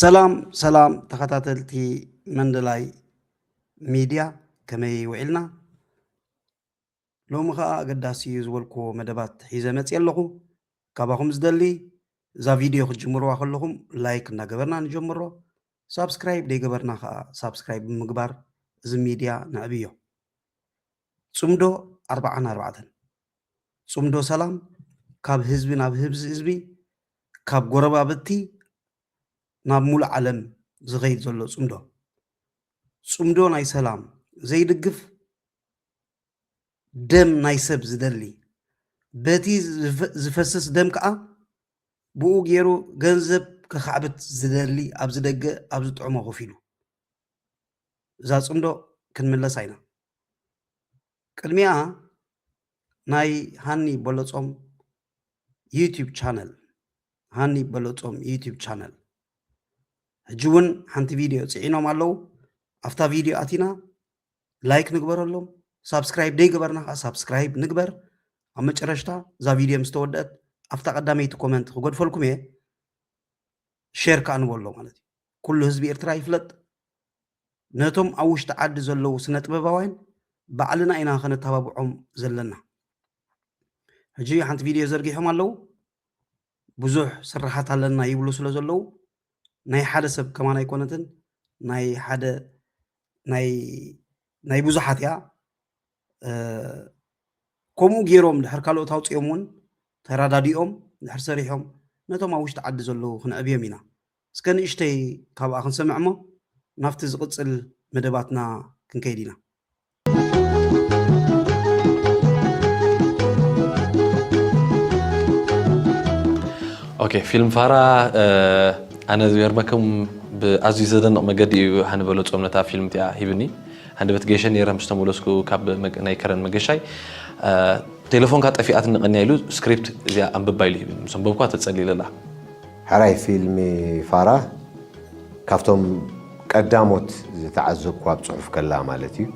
ሰላም ሰላም ተኸታተልቲ መንደላይ ሚድያ ከመይ ውዒልና ሎሚ ከዓ ኣገዳሲ እዩ ዝበልክዎ መደባት ሒዘ መፅየ ኣለኹ ካባኹም ዝደሊ እዛ ቪድዮ ክትጅምርዋ ከለኹም ላይክ እናገበርና ንጀምሮ ሳብስክራይብ ደይገበርና ከዓ ሳብስክራይብ ብምግባር እዚ ሚድያ ነዕብዮ ፅምዶ ኣርባዓን ኣርባዕተን ጽምዶ ሰላም ካብ ህዝቢ ናብ ህብዚ ህዝቢ ካብ ጎረባብቲ ናብ ሙሉእ ዓለም ዝኸይድ ዘሎ ጽምዶ ጽምዶ ናይ ሰላም ዘይድግፍ ደም ናይ ሰብ ዝደሊ በቲ ዝፈስስ ደም ከኣ ብኡ ገይሩ ገንዘብ ከኻዕብት ዝደሊ ኣብዚ ደገ ኣብ ዝጥዕሞ ኮፍ ኢሉ እዛ ጽምዶ ክንምለሳ ኢና ቅድሚኣ ናይ ሃኒ በሎጾም ዩቱብ ቻነል ሃኒ በሎጾም ዩቱብ ቻነል ሕጂ እውን ሓንቲ ቪድዮ ፅዒኖም ኣለው ኣብታ ቪድዮ ኣቲና ላይክ ንግበረሎም ሳብስክራይብ ደይገበርና ከዓ ሳብስክራይብ ንግበር ኣብ መጨረሽታ እዛ ቪድዮ ምስ ተወደአት ኣብታ ቀዳመይቲ ኮመንት ክገድፈልኩም እየ ሼር ከዓ ንበሎ ማለት እዩ ኩሉ ህዝቢ ኤርትራ ይፍለጥ ነቶም ኣብ ውሽጢ ዓዲ ዘለዉ ስነጥበባውያን ባዕልና ኢና ከነተባብዖም ዘለና ሕጂ ሓንቲ ቪድዮ ዘርጊሖም ኣለዉ ብዙሕ ስራሓት ኣለና ይብሉ ስለ ዘለዉ ናይ ሓደ ሰብ ከማን ኣይኮነትን ናይ ሓደ ናይ ናይ ብዙሓት እያ ከምኡ ገይሮም ድሕር ካልኦት ኣውፅኦም እውን ተረዳዲኦም ድሕር ሰሪሖም ነቶም ኣብ ውሽጢ ዓዲ ዘለዉ ክንዕብዮም ኢና እስከ ንእሽተይ ካብኣ ክንሰምዕ እሞ ናብቲ ዝቕፅል መደባትና ክንከይድ ኢና ኦኬ ፊልም ፋራ ኣነ ዝገርመኩም ብኣዝዩ ዘደንቕ መገዲ እዩ ሃንበሎ ፆምነት ኣብ ፊልም እቲኣ ሂብኒ ሃንደበት ገሸ ነይረ ምስ ተመለስኩ ካብ ናይ ከረን መገሻይ ቴለፎንካ ጠፊኣትኒ ቀንያ ኢሉ ስክሪፕት እዚኣ ኣንብባ ኢሉ ሂብኒ ምስ ኣንበብኳ ተጸሊለላ። ሕራይ ፊልሚ ፋራ ካብቶም ቀዳሞት ዝተዓዘብኩ ኣብ ጽሑፍ ከላ ማለት እዩ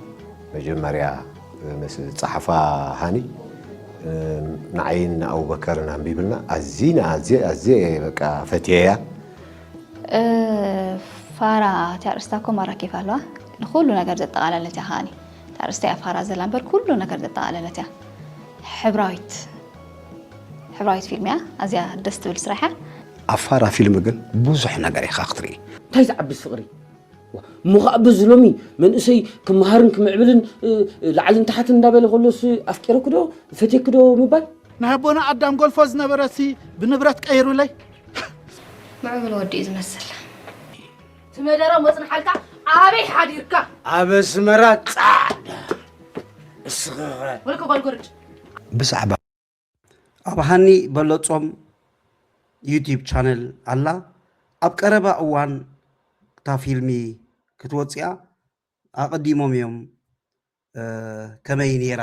መጀመርያ ምስ ዝጸሓፋ ሃኒ ንዓይን ንኣቡበከርን ኣንቢብልና ኣዚና ኣዝየ ኣዝየ በቃ ፈትየያ። ፋራ እቲ ኣርእስታ እኮ ማራኪ እኳ ኣለዋ ንኩሉ ነገር ዘጠቓለለት እያ ከዓኒ እቲ ኣርእስታ እያ ፋራ ዘላ እምበር ኩሉ ነገር ዘጠቓለለት እያ ሕብራዊት ሕብራዊት ፊልም እያ ኣዝያ ደስ ትብል ስራሕ እያ ኣብ ፋራ ፊልም ግን ብዙሕ ነገር ኢኻ ክትርኢ እንታይ ዝዓብስ ፍቕሪ ምኻዕብዝ ሎሚ መንእሰይ ክመሃርን ክምዕብልን ላዕልን ታሕትን እንዳበለ ከሎስ ኣፍቂረክዶ ፈትየክዶ ምባል ናይ ኣቦና ኣዳም ጎልፎ ዝነበረሲ ብንብረት ቀይሩለይ። ምዕቡል ወዲ እዩ ዝመስል። ትመደሮ መፅንሓልካ ኣበይ ሓዲርካ? ኣብ ኣስመራ ጻዕዳ እስኽኸ ወልከ ጓልጎርጭ ብዛዕባ ኣብ ሃኒ በለጾም ዩቲብ ቻነል ኣላ ኣብ ቀረባ እዋን እታ ፊልሚ ክትወፅያ ኣቀዲሞም እዮም ከመይ ኔራ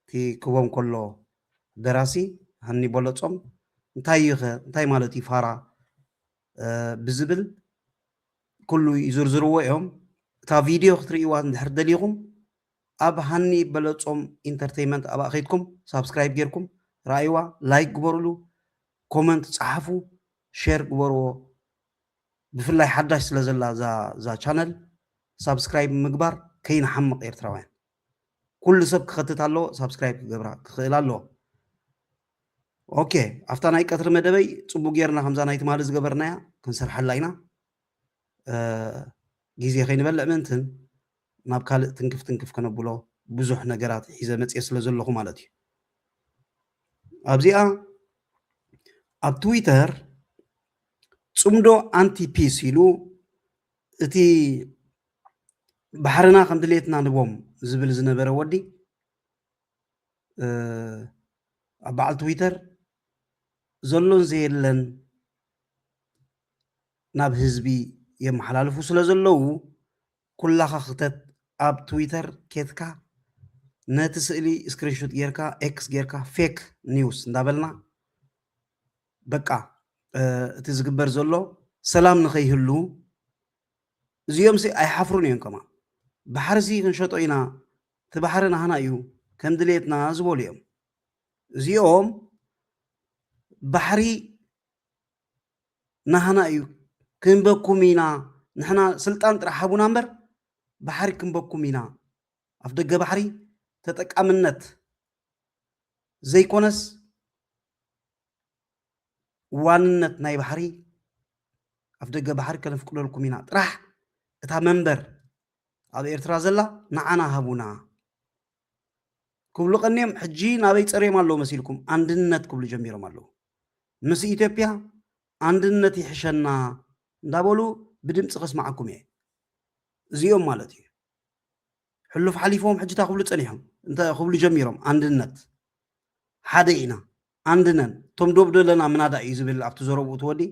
እቲ ክቦም ከሎ ደራሲ ሃኒ ቦሎጾም እንታይ እዩ ከ እንታይ ማለት እዩ ፋራ ብዝብል ኩሉ ይዝርዝርዎ እዮም እታ ቪድዮ ክትርእይዋ እንድሕር ደሊኹም ኣብ ሃኒ በለጾም ኢንተርቴይመንት ኣብኣ ከይድኩም ሳብስክራይብ ጌርኩም ረኣይዋ ላይክ ግበሩሉ ኮመንት ጸሓፉ ሼር ግበርዎ ብፍላይ ሓዳሽ ስለ ዘላ እዛ እዛ ቻነል ሳብስክራይብ ምግባር ከይንሓምቕ ኤርትራውያን ኩሉ ሰብ ክኸትት ኣለዎ ሳብስክራይብ ክገብራ ክኽእል ኣለዎ ኦኬ ኣብታ ናይ ቀትሪ መደበይ ፅቡቅ ጌርና ከምዛ ናይ ትማሊ ዝገበርናያ ክንሰርሐላ ኢና ግዜ ከይንበልዕ ምእንትን ናብ ካልእ ትንክፍ ትንክፍ ከነብሎ ብዙሕ ነገራት ሒዘ መጽየ ስለ ዘለኹ ማለት እዩ። ኣብዚኣ ኣብ ትዊተር ጽምዶ ኣንቲ ፒስ ኢሉ እቲ ባሕርና ከም ድሌትና ንቦም ዝብል ዝነበረ ወዲ ኣብ በዓል ትዊተር ዘሎን ዘየለን ናብ ህዝቢ የመሓላልፉ ስለ ዘለዉ ኩላኻ ክተት ኣብ ትዊተር ኬትካ ነቲ ስእሊ ስክሪንሹት ጌርካ ኤክስ ጌርካ ፌክ ኒውስ እንዳበልና በቃ እቲ ዝግበር ዘሎ ሰላም ንኸይህሉ እዚኦምሲ ኣይሓፍሩን እዮም ከማ ባሕርሲ ክንሸጦ ኢና እቲ ባሕሪ ናህና እዩ ከም ድሌትና ዝበሉ እዮም እዚኦም ባሕሪ ናህና እዩ ክንበኩም ኢና ንሕና ስልጣን ጥራሕ ሃቡና እምበር ባሕሪ ክንበኩም ኢና ኣፍደገ ባሕሪ ተጠቃምነት ዘይኮነስ ዋንነት ናይ ባሕሪ ኣፍደገ ባሕሪ ከነፍቅደልኩም ኢና ጥራሕ እታ መንበር ኣብ ኤርትራ ዘላ ንዓና ሃቡና ክብሉ ቀንዮም ሕጂ ናበይ ጸርዮም ኣለዉ መሲልኩም ኣንድነት ክብሉ ጀሚሮም ኣለዉ ምስ ኢትዮጵያ ኣንድነት ይሕሸና እንዳበሉ ብድምጺ ከስማዓኩም እየ እዚኦም ማለት እዩ ሕሉፍ ሓሊፎም ሕጂ እንታይ ክብሉ ጸኒሖም እንታይ ክብሉ ጀሚሮም ኣንድነት ሓደ ኢና ኣንድነን እቶም ዶብ ዘለና ምናዳ እዩ ዝብል ኣብቲ ዘረብኡ ትወዲ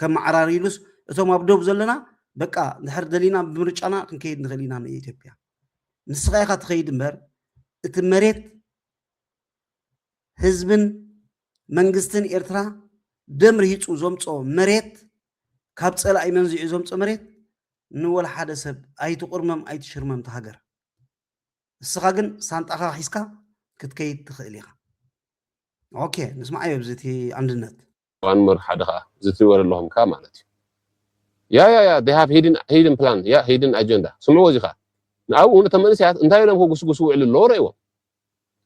ከም ማዕራር ኢሉስ እቶም ኣብ ዶብ ዘለና በቃ ድሕር ደሊና ብምርጫና ክንከይድ ንኽእል ኢና ንኢትዮጵያ ንስኻ ኢኻ ትኸይድ እምበር እቲ መሬት ህዝብን መንግስትን ኤርትራ ደም ርሂፁ ዘምፆ መሬት ካብ ፀላኢ መንዚዑ ዘምፆ መሬት ንወላ ሓደ ሰብ ኣይትቑርመም ኣይትሽርመም ሃገር ንስኻ ግን ሳንጣኻ ሒዝካ ክትከይድ ትኽእል ኢኻ ኦኬ ንስማዓዮ ብዚ እቲ ኣንድነት ዋን ሞር ሓደ ከኣ እዚ ትሪእዎ ዘለኹም ከኣ ማለት እዩ ያ ያ ያ they have hidden hidden plan ያ hidden agenda ስምዕዎ እዚ ከኣ ንኣብኡ ነቶም መንእሰያት እንታይ ኢሎም ክጉስጉሱ ውዕሉ ኣለዎ ረእይዎም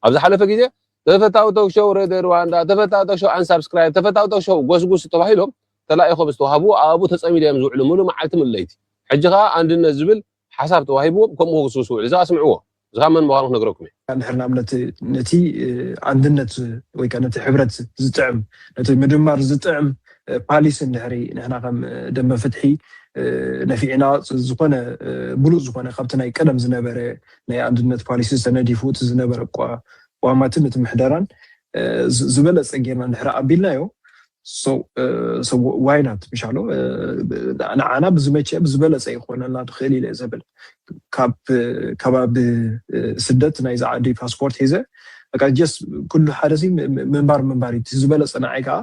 ኣብ ዝሓለፈ ግዜ ተፈታዊ ቶክ ሾው ሬድዮ ሩዋንዳ ተፈታዊ ቶክ ሾው ኣንሳብስክራይብ ተፈታዊ ቶክ ሾው ጎስጉስ ተባሂሎም ተላኢኾም ዝተዋህብዎ ኣብኡ ተጸሚዶም እዮም ዝውዕሉ ምሉእ መዓልቲ ምሉእ ለይቲ ሕጂ ከኣ ኣንድነት ዝብል ሓሳብ ተዋሂብዎም ከምኡ ክስውስው ይውዕሉ። እዛ ስምዕዎ እዚኻ መን ምዃኑ ክነግረኩም እየ። እንድሕር ንኣብነት ነቲ ኣንድነት ወይ ከኣ ነቲ ሕብረት ዝጥዕም ነቲ ምድማር ዝጥዕም ፓሊሲ እንድሕሪ ንሕና ከም ደምበ ፍትሒ ነፊዕና ዝኾነ ብሉጽ ዝኾነ ካብቲ ናይ ቀደም ዝነበረ ናይ ኣንድነት ፓሊሲ ተነዲፉ እቲ ዝነበረ ቋማትን እቲ ምሕደራን ዝበለጸ ጌርና እንድሕሪ ኣቢልናዮ ዋይናት ምሻሎ ንዓና ብዝመቸ ብዝበለፀ ይኮነና ትኽእል ኢለ ዘብል ካብ ከባቢ ስደት ናይዚ ዓዲ ፓስፖርት ሒዘ በቃ ጀስ ኩሉ ሓደ ሲ ምንባር ምንባር እዩ ዝበለፀ ንዓይ ከዓ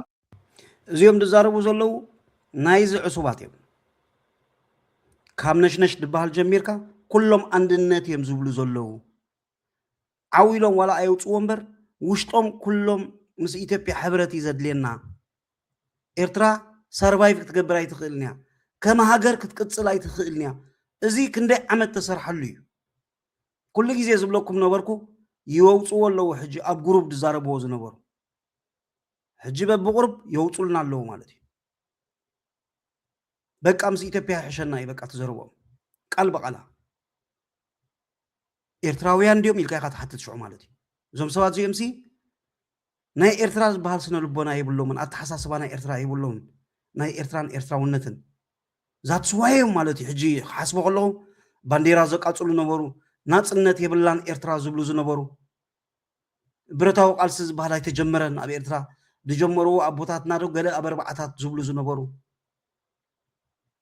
እዚኦም ዝዛረቡ ዘለዉ ናይዚ ዕሱባት እዮም ካብ ነሽነሽ ድበሃል ጀሚርካ ኩሎም ኣንድነት እዮም ዝብሉ ዘለዉ ዓው ኢሎም ዋላ ኣየውጽዎ እምበር ውሽጦም ኩሎም ምስ ኢትዮጵያ ሕብረት እዩ ዘድልየና ኤርትራ ሰርቫይቭ ክትገብር ኣይትኽእልን እያ ከም ሃገር ክትቅጽል ኣይትኽእልን እያ እዚ ክንደይ ዓመት ተሰርሐሉ እዩ ኩሉ ግዜ ዝብለኩም ነበርኩ ይወውጽዎ ኣለዉ ሕጂ ኣብ ጉሩብ ዝዛረብዎ ዝነበሩ ሕጂ በብቁርብ የውጹልና ኣለዉ ማለት እዩ በቃ ምስ ኢትዮጵያ ይሕሸና እዩ በቃ ትዘርቦም ቃል በቃላ ኤርትራውያን ድዮም ኢልካ ኢኻ ትሓትት ሽዑ ማለት እዩ። እዞም ሰባት እዚኦምሲ ናይ ኤርትራ ዝበሃል ስነ ልቦና የብሎምን፣ ኣተሓሳስባ ናይ ኤርትራ የብሎምን፣ ናይ ኤርትራን ኤርትራውነትን ዛትስ ዋይ እዮም ማለት እዩ። ሕጂ ክሓስቦ ከለኹ ባንዴራ ዘቃጽሉ ነበሩ፣ ናጽነት የብላን ኤርትራ ዝብሉ ዝነበሩ ብረታዊ ቃልሲ ዝበሃል ኣይተጀመረን ኣብ ኤርትራ ዝጀመርዎ ኣቦታትና ዶ ገለ ኣብ ኣርባዓታት ዝብሉ ዝነበሩ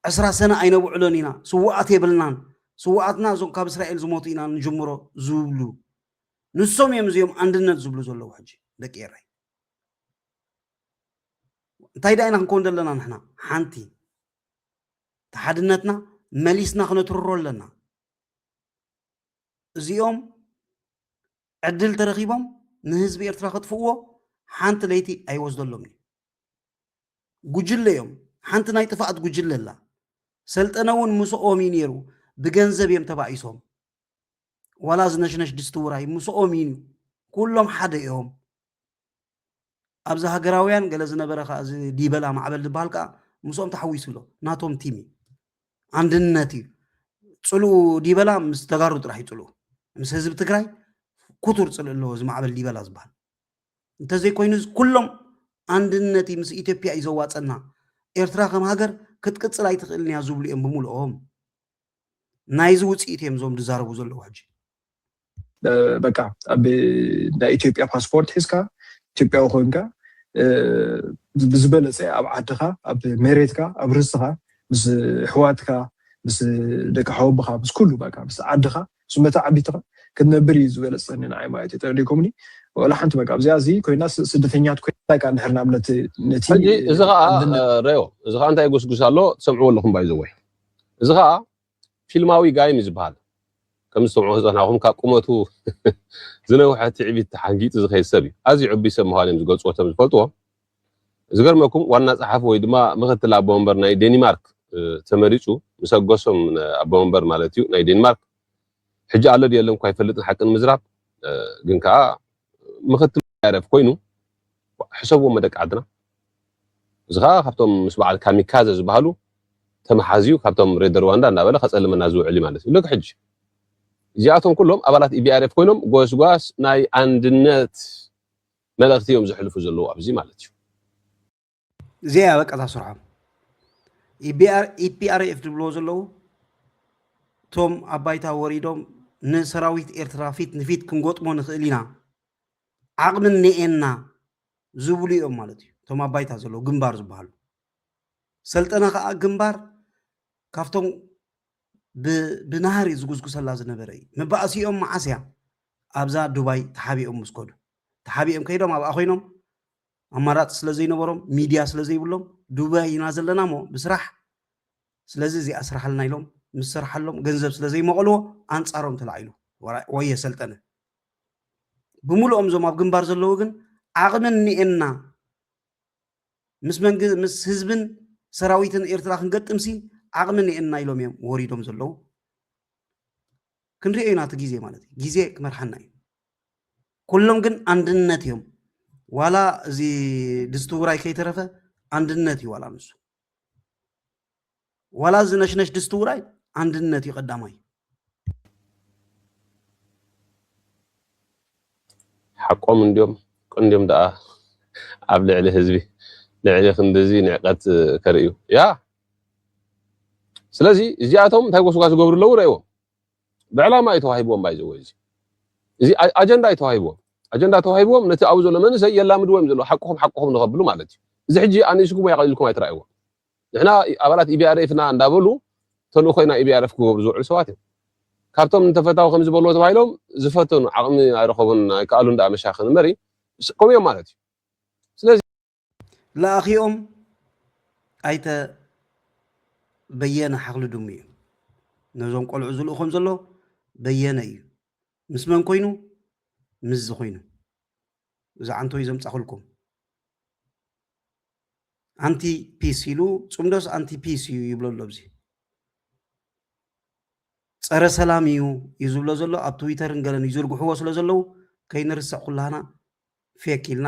ዕስራ ሰነ ኣይነብዕሎን ኢና፣ ስዉኣት የብልናን፣ ስዉኣትና እዞም ካብ እስራኤል ዝሞቱ ኢና ንጅምሮ ዝብሉ ንሶም እዮም እዚኦም ኣንድነት ዝብሉ ዘለዉ ሕጂ ደቂ ኤረይ እንታይ ደኣ ኢና ክንከውን ዘለና ንሕና ሓንቲ እቲ ሓድነትና መሊስና ክነትርሮ ኣለና እዚኦም ዕድል ተረኺቦም ንህዝቢ ኤርትራ ከጥፍእዎ ሓንቲ ለይቲ ኣይወስደሎምን እዩ ጉጅለ እዮም ሓንቲ ናይ ጥፋኣት ጉጅለ ኣላ ሰልጠነ እውን ምስኦም እዩ ነይሩ ብገንዘብ እዮም ተባኢሶም ዋላ ዝነሽነሽ ድስቲ ውራይ ምስኦም እዩ ኩሎም ሓደ እዮም ኣብዚ ሃገራውያን ገለ ዝነበረ ከዓ እዚ ዲበላ ማዕበል ዝበሃል ከዓ ምስኦም ተሓዊሱ ኣሎ ናቶም ቲም እዩ ኣንድነት እዩ ፅልኡ ዲበላ ምስ ተጋሩ ጥራሕ እዩ ፅልኡ ምስ ህዝቢ ትግራይ ኩቱር ፅልእ ኣለዎ እዚ ማዕበል ዲበላ ዝበሃል እንተዘይኮይኑ ኩሎም ኣንድነት ምስ ኢትዮጵያ እዩ ዘዋፀና ኤርትራ ከም ሃገር ክትቅፅል ኣይትኽእልን እያ ዝብሉ እዮም ብምልኦም ናይዚ ውፅኢት እዮም እዞም ዝዛረቡ ዘለዉ ሕጂ በቃ ኣብ ናይ ኢትዮጵያ ፓስፖርት ሒዝካ ኢትዮጵያዊ ኮንካ ብዝበለፀ ኣብ ዓድኻ ኣብ መሬትካ ኣብ ርስትኻ ምስ ኣሕዋትካ ምስ ደቂ ሓወብኻ ምስ ኩሉ በቃ ምስ ዓድኻ ዝመተ ዓቢትኻ ክትነብር ኢዩ ዝበለጸኒ ንዓይ ማለት ኢዩ ተረዲእኩምኒ ወላ ሓንቲ በቃ ኣብዚኣ እዚ ኮይና ስደተኛት ኮይና ከኣ ንሕር ናብ ነቲ ነቲ ሕጂ እዚ ከኣ ረዮ እዚ ከኣ እንታይ ጉስጉስ ኣሎ ትሰምዕዎ ኣለኹም ባይ ዘወይ እዚ ከኣ ፊልማዊ ጋይም እዩ ዝበሃል ከም ዝሰምዑ ህፃናኹም ካብ ቁመቱ ዝነውሐ ትዕቢት ተሓንጊጡ ዝኸይድ ሰብ እዩ ኣዝዩ ዕቡይ ሰብ ምዃኑ እዮም ዝገልፅዎ ከም ዝፈልጥዎ ዝገርመኩም ዋና ጸሓፊ ወይ ድማ ምክትል ኣቦ መንበር ናይ ዴኒማርክ ተመሪጹ ምስ ኣጎሶም ኣቦ መንበር ማለት እዩ ናይ ዴኒማርክ ሕጂ ኣሎ ድዩ የለን እኳ ኣይፈልጥን ሓቂ ንምዝራብ ግን ከኣ ምክትል ያረፍ ኮይኑ ሕሰብዎም ደቂ ዓድና እዚ ከኣ ካብቶም ምስ በዓል ካሚካዘ ዝበሃሉ ተመሓዝዩ ካብቶም ሬድ ሩዋንዳ እንዳበለ ከጸልመና ዝውዕል እዩ ማለት እዩ ልክ ሕጂ እዚኣቶም ኩሎም ኣባላት ኢቢኣርኤፍ ኮይኖም ጎስጓስ ናይ ኣንድነት መልእክቲ እዮም ዘሕልፉ ዘለዉ ኣብዚ ማለት እዩ። እዚኣ እያ በቃ እታ ስርሖም ኢፒኣርኤፍ ዝብልዎ ዘለዉ እቶም ኣብ ባይታ ወሪዶም ንሰራዊት ኤርትራ ፊት ንፊት ክንጎጥሞ ንኽእል ኢና ዓቕሚ እኒኤና ዝብሉ እዮም ማለት እዩ እቶም ኣብ ባይታ ዘለዉ ግንባር ዝበሃሉ ሰልጠነ ከዓ ግንባር ካብቶም ብናህሪ ዝጉስጉሰላ ዝነበረ እዩ መባእሲኦም መዓስ እያ ኣብዛ ዱባይ ተሓቢኦም ምስ ከዱ ተሓቢኦም ከይዶም ኣብኣ ኮይኖም ኣማራፂ ስለ ዘይነበሮም ሚድያ ስለ ዘይብሎም ዱባይ ኢና ዘለና እሞ ብስራሕ ስለዚ እዚኣ ስራሓልና ኢሎም ምስ ስራሓሎም ገንዘብ ስለ ዘይመቐልዎ ኣንፃሮም ተላዒሉ ወየ ሰልጠነ ብምሉኦም እዞም ኣብ ግንባር ዘለዉ ግን ዓቕሚ እኒኤና ምስ መንግ ምስ ህዝብን ሰራዊትን ኤርትራ ክንገጥምሲ ዓቕሚ እኒኤና ኢሎም እዮም ወሪዶም ዘለዉ ክንሪኦ ኢና እቲ ግዜ ማለት እዩ ግዜ ክመርሓና እዩ ኩሎም ግን ኣንድነት እዮም ዋላ እዚ ድስቲ ውራይ ከይተረፈ ኣንድነት እዩ ዋላ ንሱ ዋላ እዚ ነሽነሽ ድስቲ ውራይ ኣንድነት እዩ ቀዳማይ ሓቆም እንዲዮም ቅንዲዮም ደኣ ኣብ ልዕሊ ህዝቢ ልዕሊ ክንድዚ ንዕቀት ከርእዩ ያ ስለዚ እዚኣቶም እንታይ ጎስጓስ ዝገብሩ ኣለዉ ረእዎም ብዕላማ እዩ ተዋሂብዎም ባይ ዘወይ እዚ እዚ ኣጀንዳ እዩ ተዋሂብዎም ኣጀንዳ ተዋሂብዎም ነቲ ኣብኡ ዘሎ መንእሰይ የላምድዎ እዮም ዘለዎ ሓቅኹም ሓቅኹም ንኸብሉ ማለት እዩ እዚ ሕጂ ኣንእስኩም ወይ ኣቐሊልኩም ኣይትረኣይዎ ንሕና ኣባላት ኢቢኣርኤፍ ኢና እንዳበሉ ተልእኮ ኢና ኢቢኣርኤፍ ክገብሩ ዝውዕሉ ሰባት እዮም ካብቶም ንተፈታዊ ከም ዝበልዎ ተባሂሎም ዝፈተኑ ዓቕሚ ኣይረኸቡን ኣይከኣሉን ደኣ መሻኽን እምበሪ ከምኡ እዮም ማለት እዩ ስለዚ ለኣኺኦም ኣይተ በየነ ሓኽሊ ድሙ እዩ። ነዞም ቆልዑ ዝልእኾም ዘሎ በየነ እዩ። ምስ መን ኮይኑ? ምስ ዝኾይኑ እዚ ዓንተይ ዘምፃኹልኩም ኣንቲ ፒስ ኢሉ ፅምዶስ ኣንቲ ፒስ እዩ ይብሎ ኣሎ ኣብዚ ፀረ ሰላም እዩ እዩ ዝብሎ ዘሎ ኣብ ትዊተርን ገለን ይዝርግሕዎ ስለ ዘለዉ ከይንርስዕ ኩላህና ፌክ ኢልና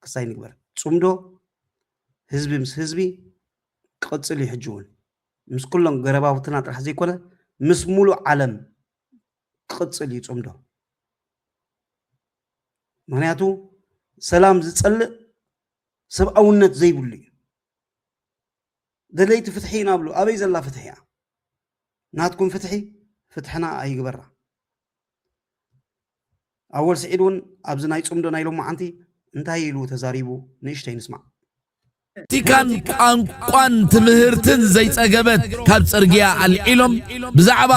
ክስ ኣይንግበር። ጽምዶ ህዝቢ ምስ ህዝቢ ክቕጽል እዩ ሕጂ እውን። ምስ ኩሎም ገረባብትና ጥራሕ ዘይኮነ ምስ ሙሉእ ዓለም ክቕጽል እዩ ጽምዶ። ምክንያቱ ሰላም ዝጸልእ ሰብኣውነት ዘይብሉ እዩ። ደለይቲ ፍትሒ ኢና ብሉ ኣበይ ዘላ ፍትሒ እያ? ናትኩም ፍትሒ ፍትሕና ኣይግበራ። ኣወል ስዒድ ውን ኣብዚ ናይ ጽምዶ ናይ ሎማዓንቲ እንታይ ኢሉ ተዛሪቡ ንእሽተይ ንስማዕ። ፖለቲካን ቋንቋን ትምህርትን ዘይጸገበት ካብ ጽርግያ ኣልዒሎም ብዛዕባ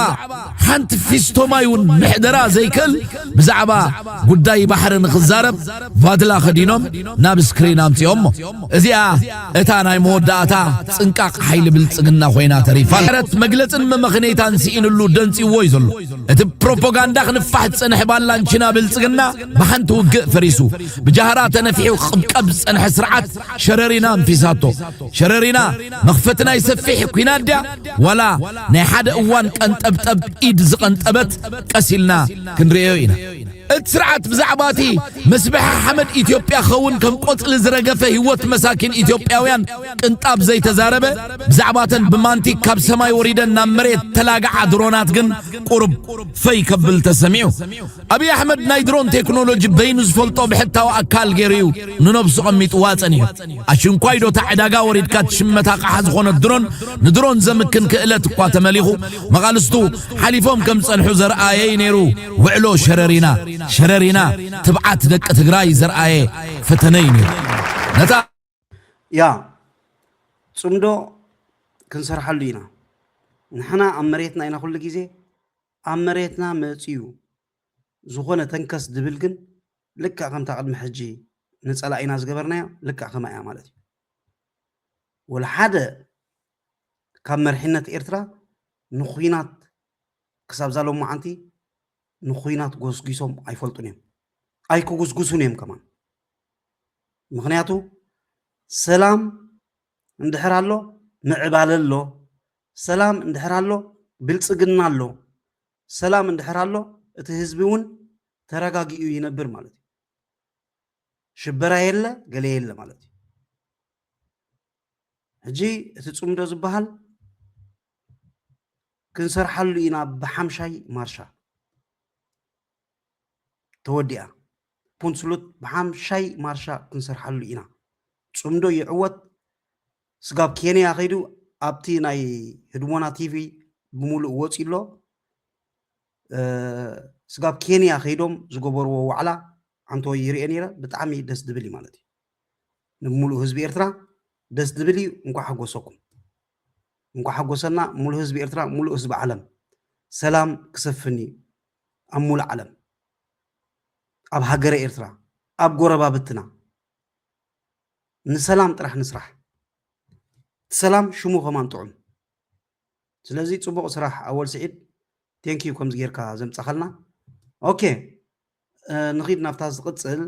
ሓንቲ ፊስቶ ማይ ውን ምሕደራ ዘይክእል ብዛዕባ ጉዳይ ባሕሪ ንኽዛረብ ቫድላ ከዲኖም ናብ ስክሪን ኣምጺኦሞ። እዚኣ እታ ናይ መወዳእታ ጽንቃቕ ሓይሊ ብልጽግና ኮይና ተሪፋ ኣላ። ምሕረት መግለጽን መመኽነይታን ስኢንሉ ደንጽዩዎ'ዩ ዘሎ። እቲ ብፕሮፖጋንዳ ክንፋሕ ዝጸንሐ ባላንቺና ብልጽግና ብሓንቲ ውግእ ፈሪሱ። ብጃህራ ተነፊሑ ክቕብቀብ ዝጸንሐ ስርዓት ሸረሪና ኣንፊሳቶ። ሸረሪና መኽፈቲ ናይ ሰፊሕ ኲናት ድያ ዋላ ናይ ሓደ እዋን ቀንጠብጠብ ኢድ ዝቐንጠበት ቀስ ኢልና ክንርእዮ ኢና። እቲ ስርዓት ብዛዕባ እቲ ምስብሐ ሓመድ ኢትዮጵያ ክኸውን ከም ቆፅሊ ዝረገፈ ህይወት መሳኪን ኢትዮጵያውያን ቅንጣብ ዘይተዛረበ፣ ብዛዕባ እተን ብማንቲግ ካብ ሰማይ ወሪደን ናብ መሬት ዝተላግዓ ድሮናት ግን ቁሩብ ፈይ ከብል ተሰሚዑ። ኣብይ ኣሕመድ ናይ ድሮን ቴክኖሎጂ በይኑ ዝፈልጦ ብሕታዊ ኣካል ገይሩ እዩ ንነብሱ ቐሚጥዋ ፀኒሑ። ኣሽንኳይ ዶ እታ ዕዳጋ ወሪድካ ትሽመት ኣቕሓ ዝኾነት ድሮን ንድሮን ዘምክን ክእለት እኳ ተመሊኹ መቓልስቱ ሓሊፎም ከም ዝፀንሑ ዘርኣየ እዩ ነይሩ። ውዕሎ ሸረሪና ሸረሪና ትብዓት ደቂ ትግራይ ዘርኣየ ፈተነ እዩ ነይሩ ነታ ያ ፅምዶ ክንሰርሓሉ ኢና ንሕና ኣብ መሬትና ኢና ኩሉ ግዜ ኣብ መሬትና መፅዩ ዝኾነ ተንከስ ድብል ግን ልክዕ ከምታ ቅድሚ ሕጂ ንፀላኢና ዝገበርናዮ ልክዕ ከማ እያ ማለት እዩ ወላ ሓደ ካብ መርሒነት ኤርትራ ንኩናት ክሳብ እዛ ሎማዓንቲ ንኩናት ጎስጒሶም ኣይፈልጡን እዮም ኣይክጉስጉሱን እዮም ከማን ምክንያቱ ሰላም እንድሕር ኣሎ ምዕባለ ኣሎ ሰላም እንድሕር ኣሎ ብልፅግና ኣሎ ሰላም እንድሕር ኣሎ እቲ ህዝቢ እውን ተረጋጊኡ ይነብር ማለት እዩ ሽበራ የለ ገለ የለ ማለት እዩ ሕጂ እቲ ፅምዶ ዝበሃል ክንሰርሓሉ ኢና ብሓምሻይ ማርሻ ተወዲኣ ፑንስሉት ብሓምሻይ ማርሻ ክንሰርሓሉ ኢና ፅምዶ ይዕወት ስጋብ ኬንያ ከይዱ ኣብቲ ናይ ህድሞና ቲቪ ብምሉእ ወፂ ኣሎ ስጋብ ኬንያ ከይዶም ዝገበርዎ ዋዕላ ኣንተ ይርኤ ነይረ ብጣዕሚ ደስ ዝብል እዩ ማለት እዩ ንሙሉእ ህዝቢ ኤርትራ ደስ ዝብል እዩ እንኳዕ ሓጎሰኩም እንኳዕ ሓጎሰና ሙሉእ ህዝቢ ኤርትራ ሙሉእ ህዝቢ ዓለም ሰላም ክሰፍን እዩ ኣብ ሙሉእ ዓለም ኣብ ሃገረ ኤርትራ ኣብ ጎረባብትና ንሰላም ጥራሕ ንስራሕ ሰላም ሽሙ ከማን ጥዑም ስለዚ ፅቡቅ ስራሕ ኣወል ስዒድ ቴንኪዩ ከምዚ ጌርካ ዘምፃኸልና ኦኬ ንኺድ ናብታ ዝቕጽል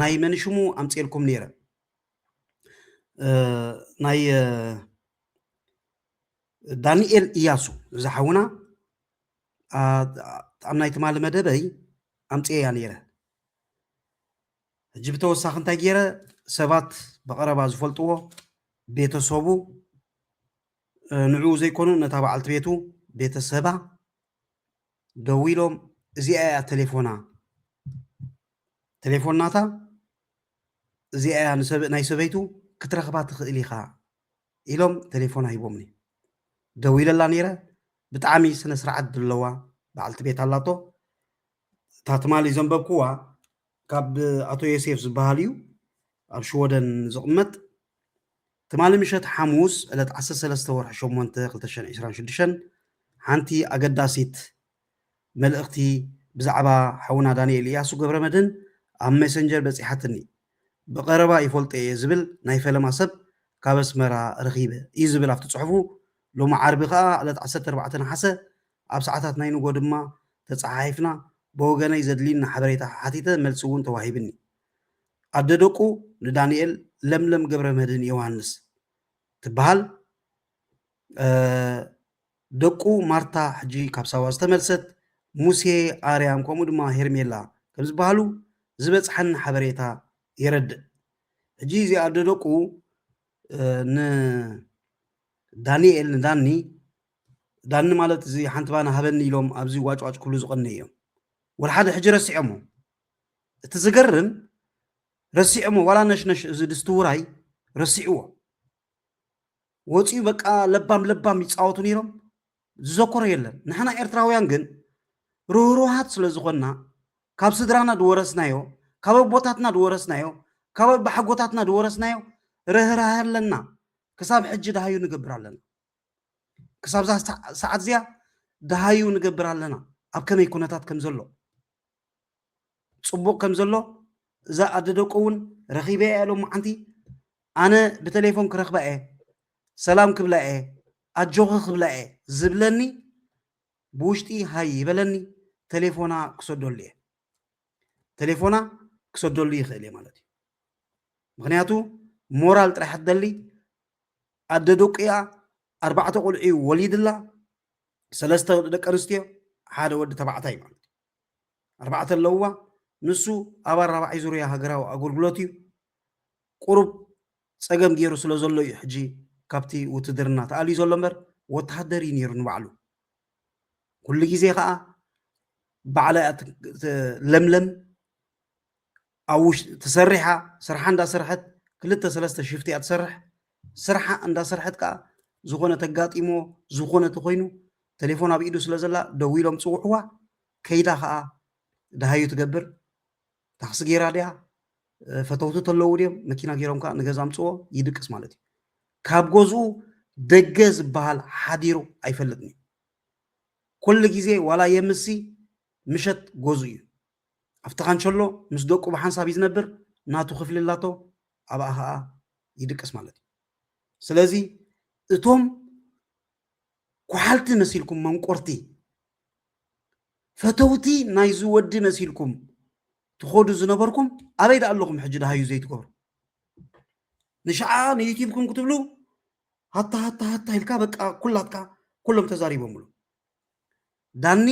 ናይ መንሽሙ ኣምጽኤልኩም ነይረ ናይ ዳንኤል እያሱ እዚ ሓውና ኣብ ናይ ትማሊ መደበይ ኣምጽኤያ ነይረ ሕጂ ብተወሳኺ እንታይ ገይረ ሰባት ብቐረባ ዝፈልጥዎ ቤተሰቡ ንዕኡ ዘይኮኑ ነታ በዓልቲ ቤቱ ቤተሰባ ደዊሎም እዚኣ እያ ተሌፎና ተሌፎን ናታ እዚኣ እያ ንሰብ ናይ ሰበይቱ ክትረኽባ ትኽእል ኢኻ ኢሎም ተሌፎና ሂቦምኒ ደዊለላ ነይረ ብጣዕሚ ስነ ስርዓት ድለዋ በዓልቲ ቤት ኣላቶ እታ ትማሊ ዘንበብኩዋ ካብ ኣቶ ዮሴፍ ዝበሃል እዩ ኣብ ሽወደን ዝቕመጥ ትማሊ ምሸት ሓሙስ ዕለት ዓሰርተ ሰለስተ ወርሒ ሸሞንተ ክልተ ሽሕን ዕስራን ሽዱሽተን ሓንቲ ኣገዳሲት መልእኽቲ ብዛዕባ ሓውና ዳኒኤል ኢያሱ ገብረመድህን ኣብ ሜሰንጀር በጺሓትኒ። ብቐረባ ይፈልጦ እየ ዝብል ናይ ፈለማ ሰብ ካብ ኣስመራ ረኺበ እዩ ዝብል ኣብቲ ጽሑፉ፣ ሎሚ ዓርቢ ከኣ ዕለት ዓሰርተ ኣርባዕተ ነሓሰ ኣብ ሰዓታት ናይ ንግሆ ድማ ተጸሓሒፍና፣ ብወገነይ ዘድልዩኒ ሓበሬታ ሓቲተ መልሲ እውን ተዋሂብኒ። ኣደ ደቁ ንዳኒኤል ለምለም ገብረመድህን ዮውሃንስ ትበሃል። ደቁ ማርታ ሕጂ ካብ ሳዋ ዝተመልሰት ሙሴ ኣርያም ከምኡ ድማ ሄርሜላ ከም ዝበሃሉ ዝበፅሐን ሓበሬታ የረድእ። ሕጂ እዚ ኣደ ደቁ ንዳኒኤል ንዳኒ ዳኒ ማለት እዚ ሓንቲ ባና ሃበኒ ኢሎም ኣብዚ ዋጭዋጭ ክብሉ ዝቐነዩ እዮም ወላ ሓደ ሕጂ ረሲዖሞ እቲ ዝገርም ረሲዖሞ ዋላ ነሽነሽ እዚ ድስቲ ውራይ ረሲዕዎ ወፂኡ በቃ ለባም ለባም ይፃወቱ ነይሮም ዝዘኮሮ የለን ንሕና ኤርትራውያን ግን ርህሩሃት ስለ ዝኾንና ካብ ስድራና ዝወረስናዮ ካብ ኣቦታትና ዝወረስናዮ ካብ ኣባሓጎታትና ዝወረስናዮ ርህራህ ኣለና ክሳብ ሕጂ ድሃዩ ንገብር ኣለና ክሳብዛ ሰዓት እዚኣ ድሃዩ ንገብር ኣለና ኣብ ከመይ ኩነታት ከም ዘሎ ፅቡቅ ከም ዘሎ እዛ ኣደ ደቁ እውን ረኺበ እየ ሎማዓንቲ ኣነ ብተሌፎን ክረኽባ እየ ሰላም ክብላ እየ ኣጆኺ ክብላ እየ ዝብለኒ ብውሽጢ ሃይ ይበለኒ ተሌፎና ክሰደሉ እየ ተሌፎና ክሰደሉ ይኽእል እየ ማለት እዩ ምክንያቱ ሞራል ጥራሕ ትደሊ ኣደ ደቂኣ ኣርባዕተ ቆልዑ ወሊድላ ሰለስተ ደቂ ኣንስትዮ ሓደ ወዲ ተባዕታይ ማለት ኣርባዕተ ኣለዉዋ። ንሱ ኣብ ኣራባዒ ዙርያ ሃገራዊ ኣጎልጉሎት እዩ። ቁሩብ ጸገም ጌሩ ስለ ዘሎ እዩ ሕጂ ካብቲ ውትድርና ተኣልዩ ዘሎ እምበር ወተሃደር እዩ ኔሩ ንባዕሉ። ኩሉ ግዜ ከኣ ባዕላ እያ ለምለም ኣብ ውሽጢ ተሰሪሓ ስርሓ እንዳሰርሐት ክልተ ሰለስተ ሽፍቲ እያ ትሰርሕ ስርሓ እንዳሰርሐት ከዓ ዝኾነ ተጋጢሞ ዝኾነ ተኾይኑ ቴሌፎን ኣብ ኢዱ ስለ ዘላ ደው ኢሎም ፅውዕዋ ከይዳ ከዓ ደሃዩ ትገብር ታክሲ ገይራ ድያ ፈተውቲ ተለዉ ድዮም መኪና ገይሮም ከዓ ንገዛ ኣምፅዎ ይድቅስ ማለት እዩ ካብ ገዝኡ ደገ ዝበሃል ሓዲሩ ኣይፈልጥን እዩ ኩሉ ግዜ ዋላ የምሲ ምሸት ገዝኡ እዩ ኣብቲ ካንቸሎ ምስ ደቁ ብሓንሳብ እዩ ዝነብር ናቱ ክፍሊ ኣላቶ ኣብኣ ከኣ ይድቅስ ማለት እዩ ስለዚ እቶም ኩሓልቲ መሲልኩም መንቆርቲ ፈተውቲ ናይዚ ወዲ መሲልኩም ትኸዱ ዝነበርኩም ኣበይ ዳ ኣለኹም ሕጂ ድሃዩ ዘይትገብሩ ንሸዓ ንዩቲብኩም ክትብሉ ሃታ ሃታ ሃታ ኢልካ በቃ ኩላትካ ኩሎም ተዛሪቦምሉ ዳኒ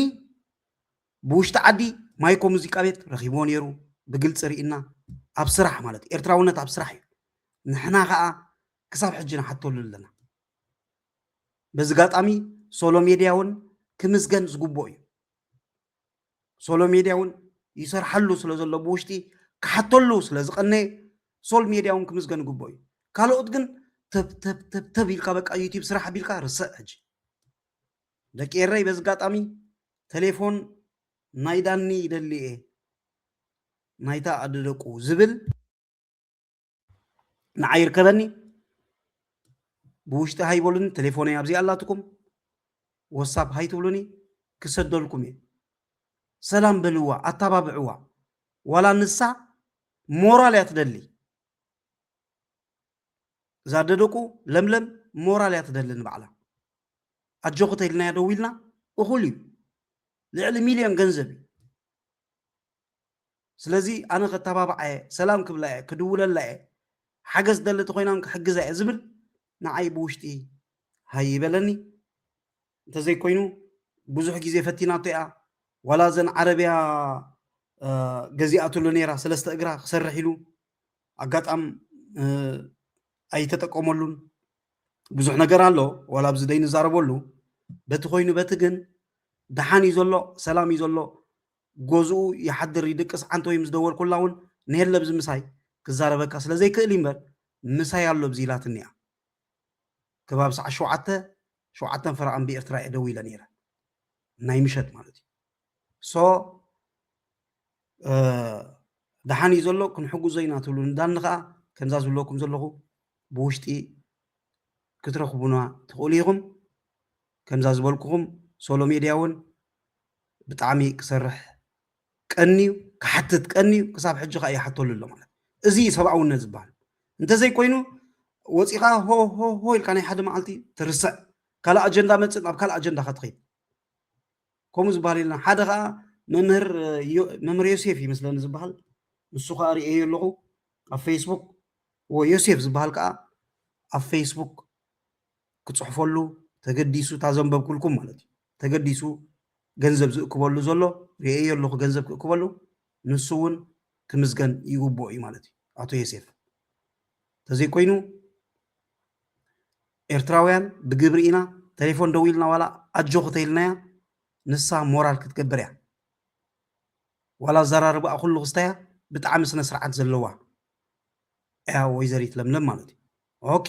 ብውሽጢ ዓዲ ማይኮ ሙዚቃ ቤት ረኪብዎ ኔሩ ብግልጺ ሪኢና ኣብ ስራሕ ማለት እዩ ኤርትራውነት ኣብ ስራሕ እዩ ንሕና ከኣ ክሳብ ሕጂ ንሓተሉ ኣለና በዚ ጋጣሚ ሶሎ ሜድያ ውን ክምስገን ዝግብኦ እዩ ሶሎ ሜድያ ውን ይሰርሓሉ ስለ ዘሎ ብውሽጢ ክሓተሉ ስለ ዝቀነየ ሶል ሜድያ ውን ክምስገን ይግብኦ እዩ ካልኦት ግን ተብ ተብ ተብ ተብ ኢልካ በቃ ዩቲብ ስራሕ ኣቢልካ ርስዕ ሕጂ ደቂ ኤረይ በዚ ጋጣሚ ተሌፎን ናይ ዳኒ ይደሊ እየ ናይታ ኣደ ደቁ ዝብል ንዓይ ይርከበኒ ብውሽጢ ሃይበሉኒ ተሌፎነይ ኣብዚኣ ኣላትኩም ወሳፕ ሃይትብሉኒ ክሰደልኩም እየ ሰላም በልዋ ኣተባብዕዋ ዋላ ንሳ ሞራል እያ ትደሊ እዛ ደደቁ ለምለም ሞራል እያ ትደሊ ንባዕላ ኣጆኺ ተኢልናያ ደዊልና እኹል እዩ ልዕሊ ሚልዮን ገንዘብ እዩ ስለዚ ኣነ ከተባብዓ እየ ሰላም ክብላ እየ ክድውለላ እየ ሓገዝ ደሊ ተኮይናን ክሕግዛ እየ ዝብል ንዓይ ብውሽጢ ሃይ ይበለኒ እንተዘይኮይኑ ብዙሕ ግዜ ፈቲናቶ እያ ዋላ ዘን ዓረብያ ገዚኣትሉ ነይራ ሰለስተ እግራ ክሰርሕ ኢሉ ኣጋጣም ኣይተጠቀመሉን ብዙሕ ነገር ኣሎ ዋላ ኣብዚ ዘይንዛረበሉ በቲ ኮይኑ በቲ ግን ደሓን እዩ ዘሎ ሰላም እዩ ዘሎ ገዝኡ ይሓድር ይድቅስ ዓንተ ወይ ምስ ደወልኩላ እውን ንየለ ብዚ ምሳይ ክዛረበካ ስለ ዘይክእል እዩ እምበር ምሳይ ኣሎ ብዚ ኢላትኒ እያ ከባቢ ሰዓት ሸውዓተ ሸውዓተን ፈረቓን ብኤርትራ እየ ደው ኢለ ነይረ ናይ ምሸት ማለት እዩ ሶ ደሓን እዩ ዘሎ ክንሕግዞ ኢና ትብሉ ንዳኒ ከዓ ከምዛ ዝብለኩም ዘለኹ ብውሽጢ ክትረኽቡና ትኽእሉ ኢኹም ከምዛ ዝበልኩኹም ሶሎ ሜድያ እውን ብጣዕሚ ክሰርሕ ቀንዩ ክሓትት ቀንዩ ክሳብ ሕጂ ከዓ ይሓተሉ ኣሎ ማለት እዚ ሰብኣውነት ዝበሃል እንተዘይኮይኑ ወፂኻ ሆ ሆ ሆ ኢልካ ናይ ሓደ መዓልቲ ትርስዕ ካልእ ኣጀንዳ መፅእ ናብ ካልእ ኣጀንዳኻ ትኸይድ ከምኡ ዝበሃል የለን ሓደ ከዓ መምህር መምህር ዮሴፍ እዩ መስለኒ ዝበሃል ንሱ ከዓ ርእየዮ ኣለኹ ኣብ ፌስቡክ ወ ዮሴፍ ዝበሃል ከዓ ኣብ ፌስቡክ ክፅሕፈሉ ተገዲሱ እታ ዘንበብኩልኩም ማለት እዩ ተገዲሱ ገንዘብ ዝእክበሉ ዘሎ ርእየዮ ኣለኹ ገንዘብ ክእክበሉ ንሱ እውን ክምስገን ይግብኦ እዩ ማለት እዩ ኣቶ ዮሴፍ ተዘይኮይኑ ኤርትራውያን ብግብሪ ኢና ተሌፎን ደዊልና ዋላ ኣጆኺ ተይልናያ ንሳ ሞራል ክትገብር እያ ዋላ ኣዛራርባኣ ኩሉ ክስታያ ብጣዕሚ ስነ ስርዓት ዘለዋ እያ ወይዘሪት ለምለም ማለት እዩ ኦኬ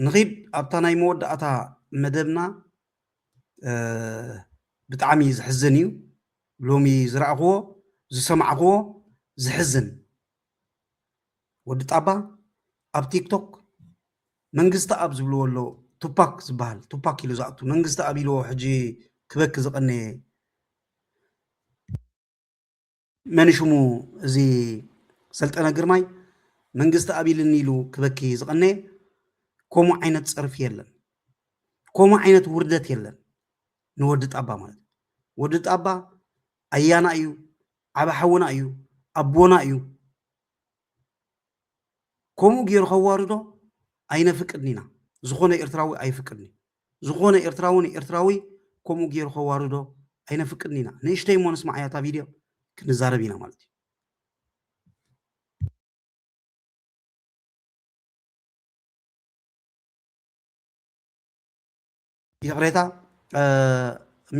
ንኺድ ኣብታ ናይ መወዳእታ መደብና ብጣዕሚ ዝሕዝን እዩ ሎሚ ዝረኣኽዎ ዝሰማዕኽዎ ዝሕዝን ወዲ ጣባ ኣብ ቲክቶክ መንግስቲ ኣብ ዝብልዎ ኣሎ ቱፓክ ዝበሃል ቱፓክ ኢሉ ዝኣቱ መንግስቲ ኣብ ኢልዎ ሕጂ ክበኪ ዝቐነየ መን ሽሙ እዚ ሰልጠነ ግርማይ መንግስቲ ኣብ ኢልኒ ኢሉ ክበኪ ዝቐነየ ከምኡ ዓይነት ፀርፊ የለን ከምኡ ዓይነት ውርደት የለን ንወዲ ጣባ ማለት ወዲ ጣባ ኣያና እዩ ዓበ ሓውና እዩ ኣቦና እዩ ከምኡ ጌሩ ከዋርዶ ኣይነፍቅድን ኢና ዝኾነ ኤርትራዊ ኣይፍቅድን እዩ ዝኾነ ኤርትራዊ ንኤርትራዊ ከምኡ ጌሩ ከዋርዶ ኣይነፍቅድን ኢና ንእሽተይ እሞ ንስማዓያ እታ ቪድዮ ክንዛረብ ኢና ማለት እዩ ይቕሬታ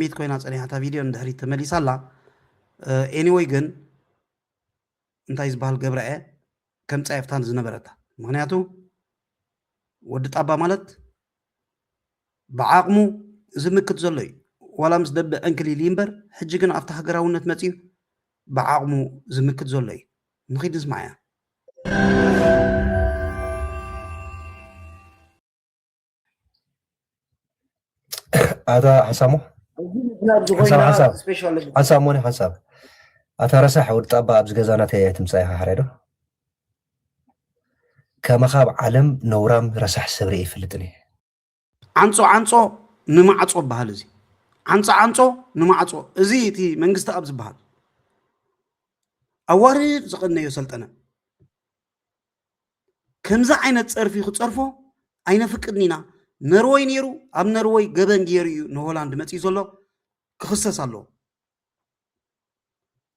ሚት ኮይና ጸኒሓ እታ ቪድዮ ንድሕሪት ተመሊሳ ኣላ ኤኒወይ ግን እንታይ ዝበሃል ገብራ እየ ከም ጻየፍታን ዝነበረታ ምክንያቱ ወዲ ጣባ ማለት ብዓቕሙ ዝምክት ዘሎ እዩ ዋላ ምስ ደበ ዕንክሊል እምበር ሕጂ ግን ኣብቲ ሃገራውነት መፅዩ ብዓቕሙ ዝምክት ዘሎ እዩ ንኺድ ንስማዕ እያ ኣታ ሓሳሙ ሓሳሙ ነ ሓሳብ ኣታ ረሳሕ ወዲ ጣባ ኣብዚ ገዛ ናተይ ኣይትምፃ ኢኻ ሓደ ዶ ከመኻ ኣብ ዓለም ነውራም ረሳሕ ሰብሪ ይፈልጥን እየ ዓንፆ ዓንፆ ንማዕፆ በሃል እዚ ዓንፆ ዓንፆ ንማዕፆ እዚ እቲ መንግስቲ ኣብ ዝበሃል ኣዋርድ ዝቐነዮ ሰልጠነ ከምዚ ዓይነት ጸርፊ ክጸርፎ ኣይነፍቅድን ኢና። ነርወይ ነይሩ ኣብ ነርወይ ገበን ገይሩ እዩ ንሆላንድ መጺኡ ዘሎ ክኽሰስ ኣለዎ።